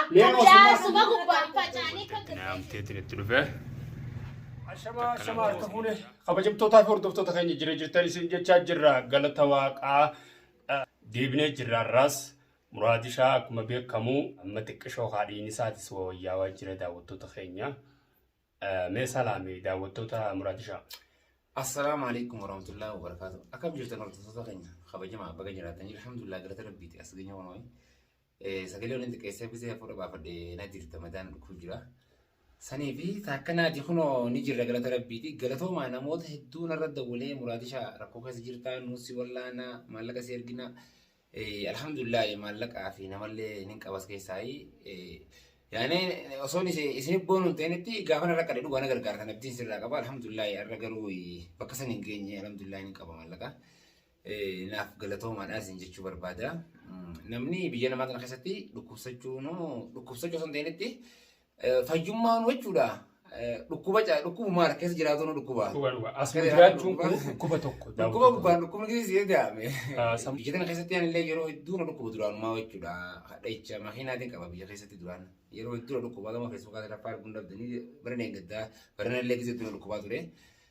Akkam yaa suma gubbaan facaanii kan Kana amteetiin itti dhufee. Ashamaa ashamaa harka fuune kabajamtootaa fi hordoftoota keenya jira jirtan isin jechaa jirra galata waaqaa eh, deebinee jirra irraas muraadishaa akkuma beekamu amma xiqqishoo haadhiin isaatis wayyaawaa jira daawwattoota keenya Eh, mee salaame daawwattoota muraadishaa Assalaamu alaikum warahmatullahi wabarakatuh. Akkam jirtan hordoftoota keenya kabajamaa baga jiraatanii alhamdulillah galata rabbiiti as geenye waan wayii. Sagalee waliin xiqqeessee bisee hafuura baafadhe na jirta mataan dhukkuu jira. Sanii fi taakkanaati kunoo ni jirra galata rabbiiti. Galatoomaa namoota hedduu narra dawwalee muraadisha rakkoo keessa jirtaa nuusi wallaana maallaqa si ergina. Alhamdulillah maallaqaa fi namallee nin qabas keessaayi. Yaani osoo isin boonu hin ta'initti gaafa narra qade dhugaa na gargaartan abdiin sirraa qaba. Alhamdulillah irra garuu bakka san hin geenye alhamdulillah nin qaba maallaqa. naaf galatoomaadha isin jechuu barbaada. Namni biyya namaa kana keessatti dhukkubsachuu dhukkubsachuu osoo hin ta'initti fayyummaan jechuudha. Dhukkuba dhukkubu maal keessa jiraatu nu dhukkuba. Asuma jiraachuun kun dhukkuba tokko. Dhukkuba gubbaan dhukkubni keessa yoo daa'ame. Biyya kana keessatti anillee yeroo hedduu na dhukkuba duraanumaa jechuudha. Hadhaicha makiinaatiin qaba biyya keessatti duraan. Yeroo hedduu na dhukkuba gama feesbuukaa irratti arguu hin dhabdanii bara deengaddaa bara nallee keessatti na dhukkubaa ture.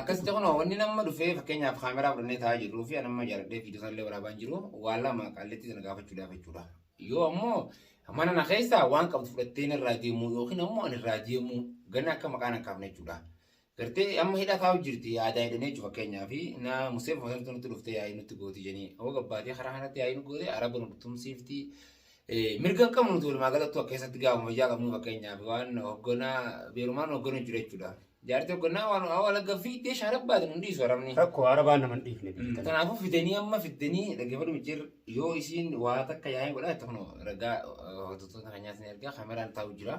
Akkasitti kun wanni nama dhufee fakkeenyaaf kaameraa fudhannee taa'aa jirruu fi anamma jaaladhee fi illee waraabaan jiru waan lama qalleetti sana gaafachuudhaaf jechuudha. Yoo ammoo mana na keessaa waan qabdu fudhattee irraa deemuu yookiin ammoo ani irraa deemuu ganna akka maqaan hin kaafne jechuudha. Gartee amma hidha kaa'u jirti aadaa hidhanii jechuudha fakkeenyaaf na musee fakkeenyaaf nutti dhuftee yaa'ii nutti gootii jenii hoo gabbaatee karaa kanatti yaa'ii nu gootee araba nu tumsiiftii. Mirga qabnu tuulmaa galattuu akka keessatti gaafa fayyaa qabnu fakkeenyaaf waan hogganaa beerumaan hogganuu jiru jechuudha. Jaartii hoggannaa waan waa walagga fiiddee shaarab baatan hin dhiisu arabni. Rakkoo arabaa nama hin dhiifne biyyi tana. Kanaafuu fidanii amma fiddanii dhaggeeffadhu micciir yoo isiin waa takka yaa'ee godhaa itti kunoo ragaa hordoftoota keenyaas ni ergaa kaameraan taa'u jira.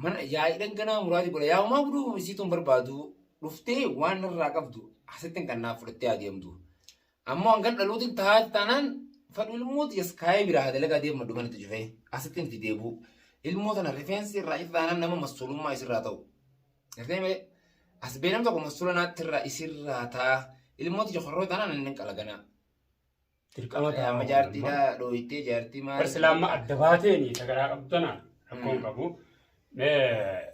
Mana yaa'iidhan ganaa muraati godha yaa'umaa guduu isiituun barbaadu dhuftee waan irraa qabdu asittiin kan naaf fudhattee adeemtu. Ammoo hangan dhaluutiin taa'eef taanaan fadhu ilmoo tiyya iskaayee biraa haa dalagaa deema maddu manatti cufee asitti miti deebuu ilmoo tana rifeensi irraa cite taanaan nama massuulummaa isirraa ta'u. Gartee malee as beenam tokko massuula naatti irraa isirraa taa ilmoo tiyya korroo taanaan inni hin qalaganaa. Dirqama ta'a. Amma jaartiidhaa dhooytee jaartii maal. Barsilaamma adda baateeni sagaraa qabdana rakkoon qabu. Mee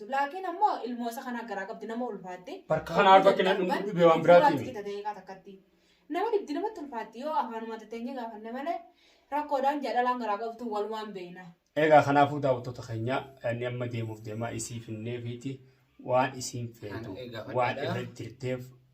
Blaakiin ammoo ilmoo isa kanaa garaa qabdi nama ulfaatte. Barka kana arba kenna dhumtu dhibee waan biraatiin. Ulfaatti fita ta'ee kaa takkatti. Nama dhibdi namatti ulfaatti yoo afaanuma tatteenya gaafanne malee rakkoodhaan jedha dhalaan garaa qabdu walumaan beeyna. Egaa kanaafuu daawwattoota keenya inni amma deemuuf deemaa isii finnee fiiti waan isiin feetu waan irra jirteef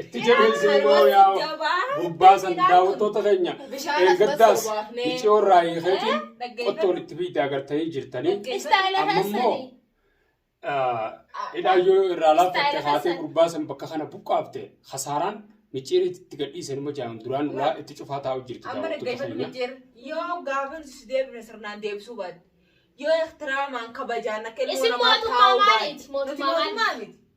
itti jedheen sinumaa yaa gurbaa san daawwattoota keenya eeggaddaas miciyoo irraa hiikeetiin qottoon itti biidda agartanii jirtanii amma immoo hidhaayyoo irraa laaffatte haatee gurbaa san bakka kana buqqaafte hasaaraan miciyeen itti gadhiise numa jaamu duraan duraa itti cufaa taa'u jirti daawwattoota keenya. Yoo gaafa deebine sirnaan deebisuu baate yoo ehtiraamaan kabajaan akka ilmoo namaa taa'u baate mootummaa miti.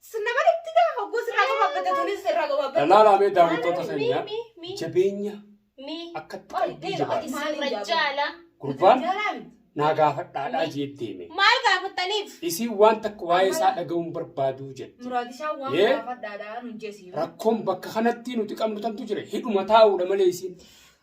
Sinna malitti gaa hogguu sirraa gabaabbatte tunis sirraa gabaabbatte. Lalaala mee daawwattoota seenyaa Mi, mi, mi. jabeenya Mi. akkatti Ol qalbii dheeraa jabaate. ati sirra jaala. Gurbaan Jaalaa miti. naa gaafadhaadhaa jee deeme. Maal gaafattaniif? Isiin waan takka waa'ee isaa dhaga'uun barbaaduu jette. Muraadishaa waan Yee. gaafadhaadhaa nun jesiin. Rakkoon bakka kanatti nuti qabnu tantu jira. Hidhuma taa'uudha malee isiin.